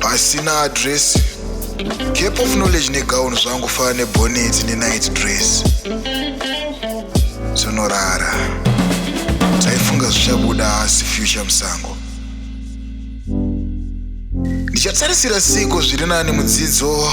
pasina address gap of knowledge negown zvangu fana nebonet nenight dress zvinorara taifunga zvichabuda asi future musango ndichatarisira siko zviri nani mudzidzo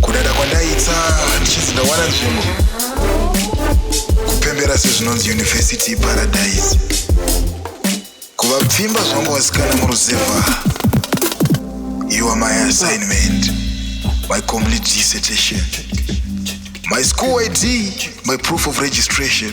Kudada kwandaita ndichinzi ndawana nzvimbo kupembera sezvinonzi University iParadise kuva pfimba zvangu wasikana muruzevha you are my assignment my complete dissertation my school ID my proof of registration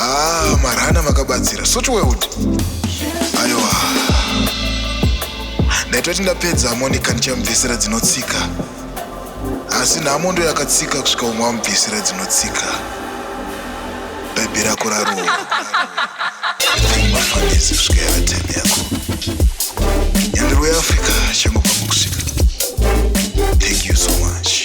ah marana makabatsira suti weuti aiwa ndaitoti ndapedza hamonika ndichamubvisira dzinotsika asi nhamo ndo yakatsika kusvika umwe amubvisira dzinotsika bhebhi rako rarowa mafanisi kusvika yavateni yako nyandiro yeafrica changobva mukusvika thank you so much